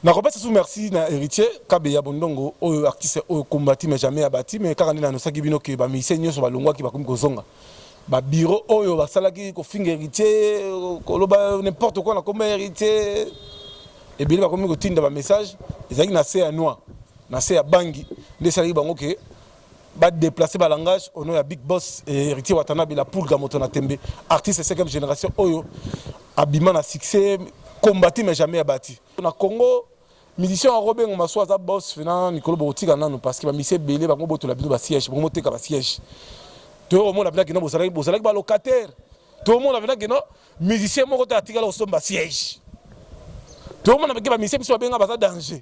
Nakopesa lisusu merci na Heritier kabeya bondongo oyo artiste oyo combati mais jamais abati mais kaka nde na annoncaki bino que ba musiciens nionso balongwaki bakomi kozonga ba bureau oyo basalaki kofinga Heritier koloba n'importe quoi na komba Heritier ebele bakomi kotinda ba message ezalaki na se ya noix na se ya bangi nde esalaki bango que Ba deplacer ba langage au nom ya Big Boss et Heritier Watanabe la Pulga moto na tembe artiste 5e generation oyo abima na succès combati mais jamais abati. Na Congo musicien oko bengo masu aza boss na mikolo bokotika nanu parce que ba musiciens ebele bango botola bino ba siège bango boteka ba siège to omona bina kino bozalaki bozalaki ba locataire to omona bina kino musicien moko te atikala kosomba siège to omona bake ba musiciens biso babenga baza danger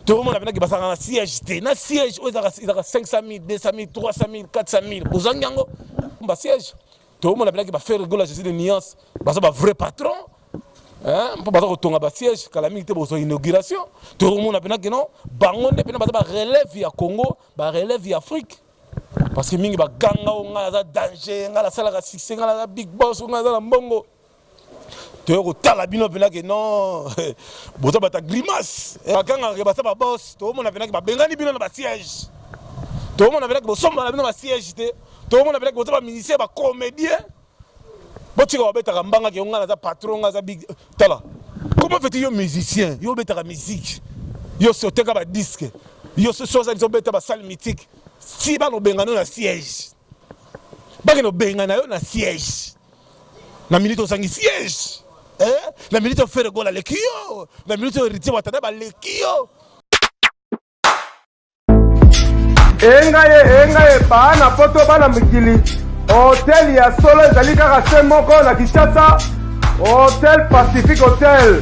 tokomona mpenaki bazalaka na siège te na siège oyo ezalaka 500000 200000 300000 400000 bozangi yango ba siège tokomona mpenaki bafaire rigola jésus de nuance baza bavrai patron mpo baza kotonga ba siège kala mingi te bozwa inauguration tokomona mpenaki no bango nde mpena baza barelève ya congo barelève ya afrique parce que mingi baganga o ngai aza danger ngai nasalaka succès ngai naza big boss o ngai aza na mbongo toye kotala bino mpena ke non boza bata grimace eh, bakangaka basa babos toomona mpena ke babengani bino na basiège toomona mpena ke bosombana bino basiège te toomona mpena ke boza bamusicien bacomédien botika babetaka mbanga ke ngai naza patron ngai aza big tala comment feti yo musicien yo obetaka musique yo si oteka badisque yo sosi ozalisi obeta basale mythique si bana obengana yo na siège bakende obengana yo na siège Na minute ozangi siège. Eh, na minute oyo Ferre Gola aleki yo. Na minute oyo Heritier Watana baleki yo. Enga ye, enga ye, bana poto bana mikili. Hotel ya solo ezali kaka se moko na Kinshasa. Hotel Pacific Hotel.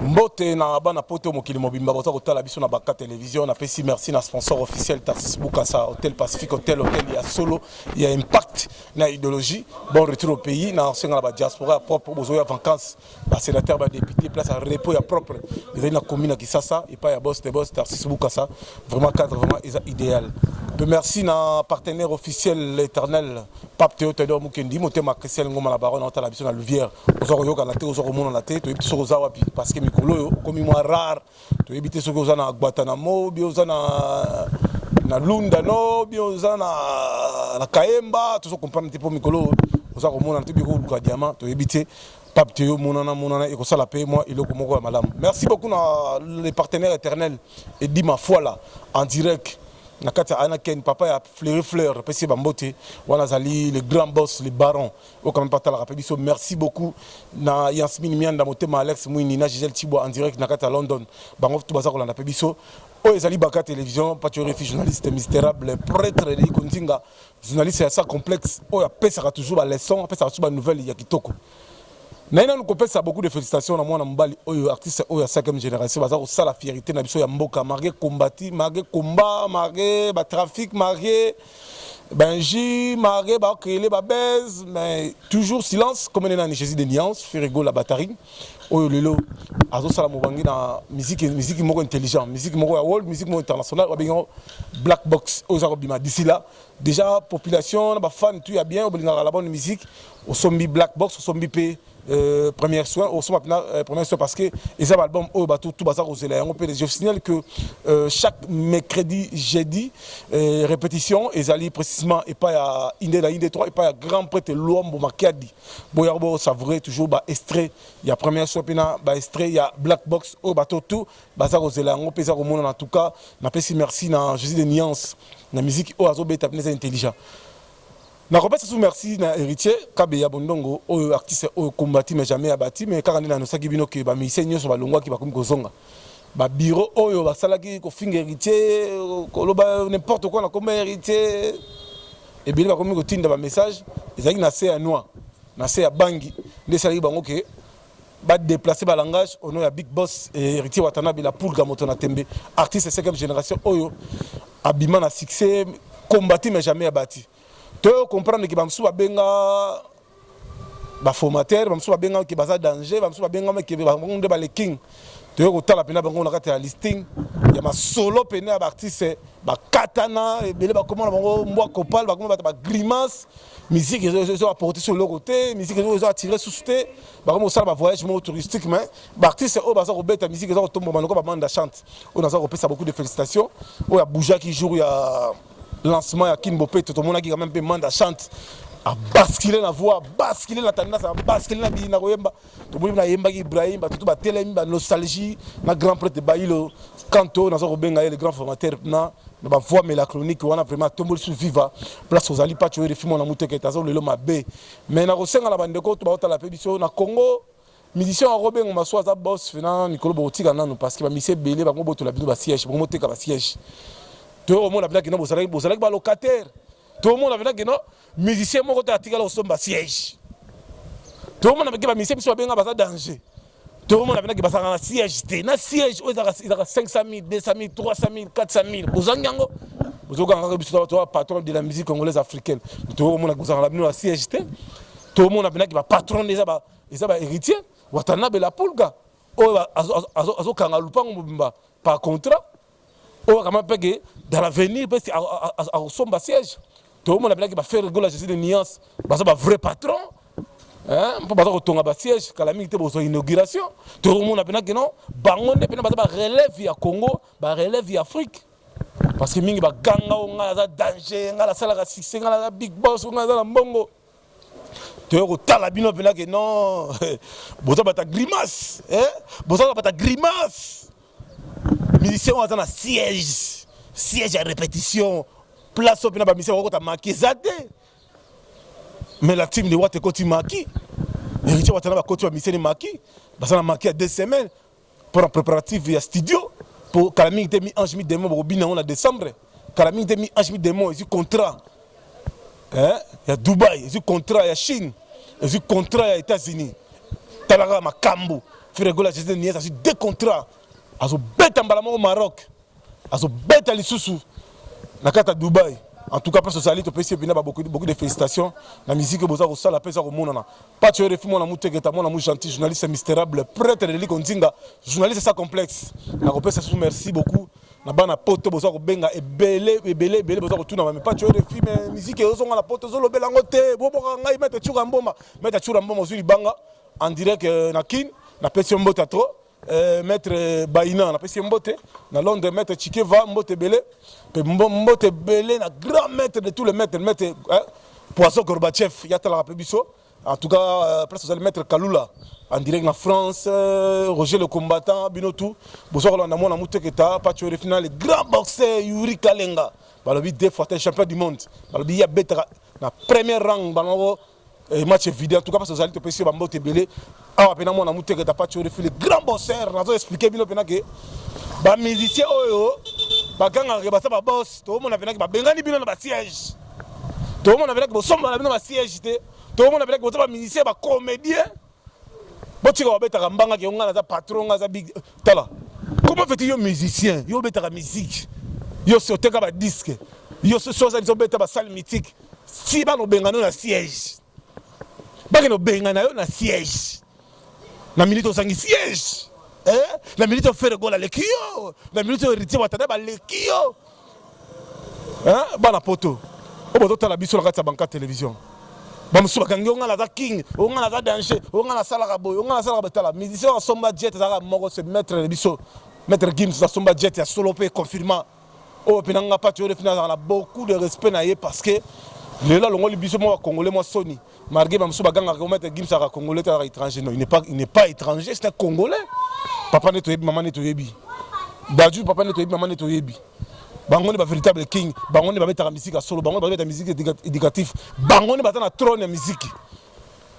Mbote na bana poto mokili mobimba boza kotala biso na Baka Television. Napesi merci na sponsor officiel Tarsis Bukasa Hotel Pacific Hotel Hotel ya solo ya impact na ideologie. Bon retour au pays na senga na ba diaspora ya propre bozo ya vacances ba sénateurs ba députés place à repos ya propre. Ezali na commune ya Kisasa epa ya boss de boss Tarsis Bukasa vraiment cadre vraiment eza idéal. Pe merci na partenaire officiel l'éternel Pape Theo Tedor Mukendi, motema Christian Ngoma la baronne otala biso na Louvière. Oza koyoka na te, oza komona na te, toyebi te soki oza wapi parce que mikolo oyo okomi mwa rare. Toyebi te soki oza na Guantanamo, bi oza na na Lunda no, bi oza na na Kaemba, tozo comprendre te po mikolo oza komona na te bi ko luka diamant, toyebi te. Pape Theo monana monana et ça la paye moi et le komoko ya malamu. Merci beaucoup na les partenaires éternels et dit ma foi là en direct na kati ya Anaken papa ya Fleury Fleur apesi ye bambote wana azali le grand boss le baron oyo kame mpe atalaka mpe biso merci beaucoup na Yasmine Mianda motema Alex Mwini na Gisèle Tshibwa en direct na kati ya London bango tu baza kolanda mpe biso oyo ezali Baka Television Pacho Refi journaliste misterable prêtre Eliko Nzinga journaliste ya sa complexe oyo apesaka toujours ba leçons apesaka toujours ba nouvelles ya kitoko Naye nanu kopesa beaucoup de felicitations na mwana mobali oyo artiste oyo ya 5e generation baza kosala fierite na biso ya mboka malgré combati malgré combat malgré ba trafic malgré benji malgré ba créer ba buzz mais toujours silence comme nena ni Jésus de nuance Ferrego la batterie oyo lelo azosala mobange na musique musique moko intelligent musique moko ya world musique moko international babengi black box oyo eza kobima d'ici là Deja population na ba fan tout ya bien obolingaka la bonne musique osombi black box osombi pe Euh, première soin osomba mpena euh, première soin parce que eza baalbum oyo bato tu baza kozela yango mpe je signale que euh, chaque mercredi jeudi euh, répétition ezali précisément epai ya inde na inde 3 epai ya grand prêtre luambo makiadi boyaka bosavoure toujours baestrait ya première soin mpe na baestrait ya black box oyo bato tu baza kozela yango mpe eza komonana en tout cas napesi merci na jésus de nuance na miziki oyo azobeta mpena eza intelligent nakopesa su merci na héritier kabe ya bondongo oyo artiste oyo kombati mais jamais abati mais kaka nde nanosaki bino ke bamusicien nyonso balongwaki bakomi kozonga babiro oyo basalaki kofinga héritier koloba n'importe quoi na komba héritier ebele bakomi kotinda bamessage ezalaki na se ya noix na se ya bangi nde esalaki bango ke Ba deplacer ba langages au nom ya Big Boss et Heritier Watanabe la Pulga moto na tembe artiste cinquième generation oyo abima na succès combati mais jamais abati. To comprendre que ba mosusu ba benga ba formateur ba mosusu ba benga que baza danger ba mosusu ba benga que ba nde ba le king. toye kotala mpena bango na kati ya listing ya masolo mpena ya baartiste bakatana ebele bakoma na bango mbwa copal bakoma bato bagrimace musique ezo apporter sur eloko te musique ezo attirer susu te bakomi kosala ba voyage moko touristique mais baartiste oyo baza kobeta musique eza kotomboma lokola bamanda chante oyo naza kopesa beaucoup de félicitations oyo aboujaki jour ya lancement ya kin bopeto tomonaki quand même mpe manda chante abascule na voix abascule na tendance abascule na biyi na koyemba toboni mpe nayembaki ibrahim bato to batelemi ba nostalgie na grand prêtre bailo kanto naza kobenga ye le grand formateur na na bavoi melacronique wana vraiment atomboli su viva place ozali paco erefi mwana mutekete aza lelo mabe mais nakosenga na bandeko to baotala mpe biso na congo musicien yango bengo maso aza bos na mikolo bokotika nanu parce que bamisi ebele bango botola bino basiège bango moteka basiège toyo omona bino kino bozalaki bozalaki balocataire toomona bino kino musicien moko te atikala kosomba siège tokomona bake bamisie biso babenga baza danger tokomona mpenaki bazalaka na siège te na siège oyo ezalaka 500 000 200 000 300 000 400 000 bozangi yango bozokangaka biso toa patron de la musique congolaise africaine tokomona bozalaka na bino na siège te tokomona mpenaki bapatron eza bahéritier watanabe la pulga oyo azokanga lupango mobimba par contrat oyo akama mpe ke dans l'avenir mpe akosomba siège toomona bilaki bafere gola jésus de nuance baza bavrai patron mpo baza kotonga basiège kala mingi te bozwa inauguration tokomona mpena kino bango nde mpena baza barelève ya congo barelève ya afrique parce que mingi baganga o ngai aza danger ngai nasalaka succès ngai naza big boss o ngai aza na mbongo toye kotala bino mpena ke non boza bata grimace eh? boza bata grimace musicien oyo aza na siège siège ya répétition place oyo mpena bamisien bakokota maki eza te mais la team de wat ekoti maki héritier watana bakoti bamiseni maki baza na maki ya deux semaines pona preparative ya studio po kala mingi te mi ange mi demon bokobina yango na decembre kala mingi te mi ange mi demon ezwi contrat eh, ya dubai ezwi contrat ya chine ezwi contrat ya états-unis talaka makambo fregola jesus nies azwi deux contrat azobeta mbala moko maroc azo beta lisusu na kata Dubaï en tout cas parce ozali topesi ebina ba beaucoup beaucoup de félicitations na musique boza ko sala pesa ko monana pacho refi mwana muteketa mwana mu gentil journaliste misterable prêtre de liko nzinga journaliste sans complexe na ko pesa sous merci beaucoup na bana poto boza ko benga ebele ebele ebele boza ko tuna ba pacho refi mais musique ezo nga na poto zo lobela ngo te bo boka ngai meta chura mboma meta chura mboma zuli banga en direct euh, na kin na pesi mbote trop Eh, maître Baina napesi ye mbote na Londres, maître Chikeva mbote bele pe mbote bele na grand maître de tous les maîtres maître hein, Poisson Gorbachev yatalaka pe biso en tout cas euh, place ozali maître Kalula en direct na France euh, Roger le combattant bino tout bozo kolanda mwana muteketa Pacho le final grand boxeur Yuri Kalenga balobi deux fois champion du monde balobi ya betaka na première rang bango Et match est vidé. En tout cas, parce que vous allez te passer bambo te belé. Ah, pena moi na muteke ta pas tu refais le grand bosseur. Nazo expliquer bino pena que ba musiciens oyo ba ganga ke ba sa ba boss. To mona pena que ba bengani bino na ba siège. To mona pena que bo somba na bino ba siège te. To mona pena que bo ba musiciens ba comédiens. botika babetaka mbanga ke ngai naza patron ngai aza big tala comment fais-tu yo musicien yo obetaka musique yo si oteka ba disque yo sosi oza biso obeta ba salle mythique si bana obengana yo na siège bakende obengana yo na siège na minute ozangi siège eh? na minute ofere gola leki yo na minute héritier watana baleki yo hein bana poto oyo bozotala biso na kati ya banka television bamosusu bakangi onga naza king onga naza danger onga nasalaka boye onga nasalaka boye tala musicien oyo asomba jet ezalaka moko se maître na biso maître gims asomba jet ya solo mpe confirma oyo mpe nanga pati oyo defi nazalaka na beaucoup de respect na ye parce que lelo alongoli biso mwa bacongolais mwa soni Malgré ba mususu bagangaka ko maître Gims aka congolais te azaka étranger non il n'est pas il n'est pas étranger c'est un congolais papa nde toyebi maman nde toyebi Dadju papa nde toyebi maman nde toyebi bango nde ba véritable king bango nde babetaka miziki ya solo bango nde babeta miziki éducatif bango nde baza na trône ya miziki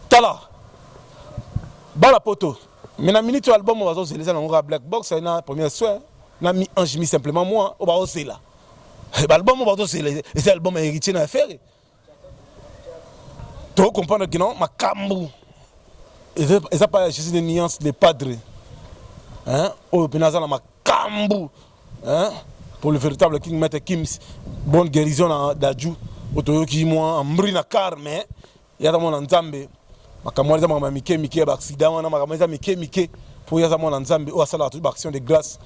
tala bana poto mais na minute ya album oyo bazozela eza nango kaka black box na première soin na mi ange mi simplement moi oyo bazozela eh, baalbum oyo bazozela eza album ya héritier na ya fere To comprendre que non makambu eza pas juste des nuances les padres hein oyo pena za na makambu hein pour le véritable king maître Kims bonne guérison na Dadju otoyoki moi mbri na car mais yata mwana Nzambe makambo wana eza makambo ya mike mike ya baaccident wana makambo eza mike mike mpo ye aza mwana nzambe oyo asalaka toyi baaction de grâce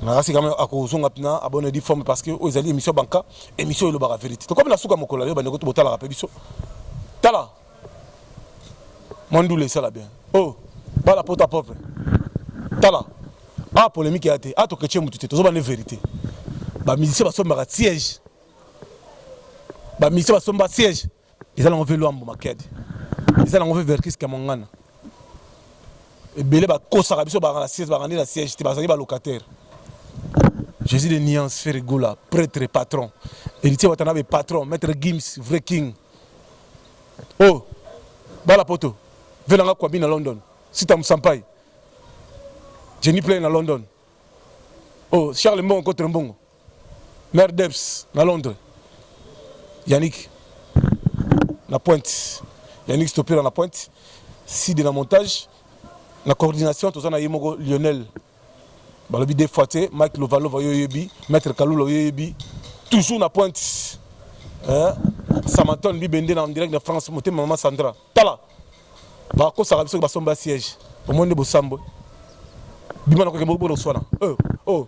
nakasi kama akozonga mpena abone di forme parce que oyo ezali émission banka émission elobaka vérité tokomi na suka mokolo yo bandeko botalaka mpe biso tala mwa ndula esala bien o oh, bala poto apropre tala a ah, polémique ya te a ah, tokece motu te tozobande vérité bamusicien basombaka siège bamusicien basomba siège eza nango mpe lwambo makiadi eza nango mpe verkis kamwangana ebele bakosaka biso baka na siège baka nde na siège te bazali balocataire jésus de nuance fere gola prêtre patron héritier watanabe patron maître gims vrai king o oh, bala poto velanga kwabi na london sita mosampai jenny play na london o oh, charles mbongo kotre mbongo Mère Debs na Londres. Yannick na pointe. Yannick Stopera na pointe. Side na montage. Na coordination toza na ye moko Lionel. Balobi deux fois te Mike Lovalova yo yebi, Maître Kalula yo yebi. Toujours na pointe. Hein? Samanton bibende na direct na France motema maman Sandra. Tala. Ba ko sala biso ba somba siège. Omoni bosambo. Bima na ko kembo bo swana. Oh. Oh.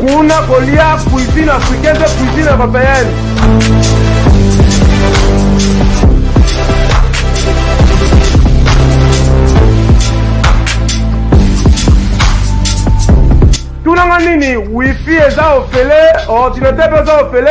kuna kolia cuisine africaine mpe cuisine européenne tunanga nini wifi eza ofele ordinateur mpe eza ofele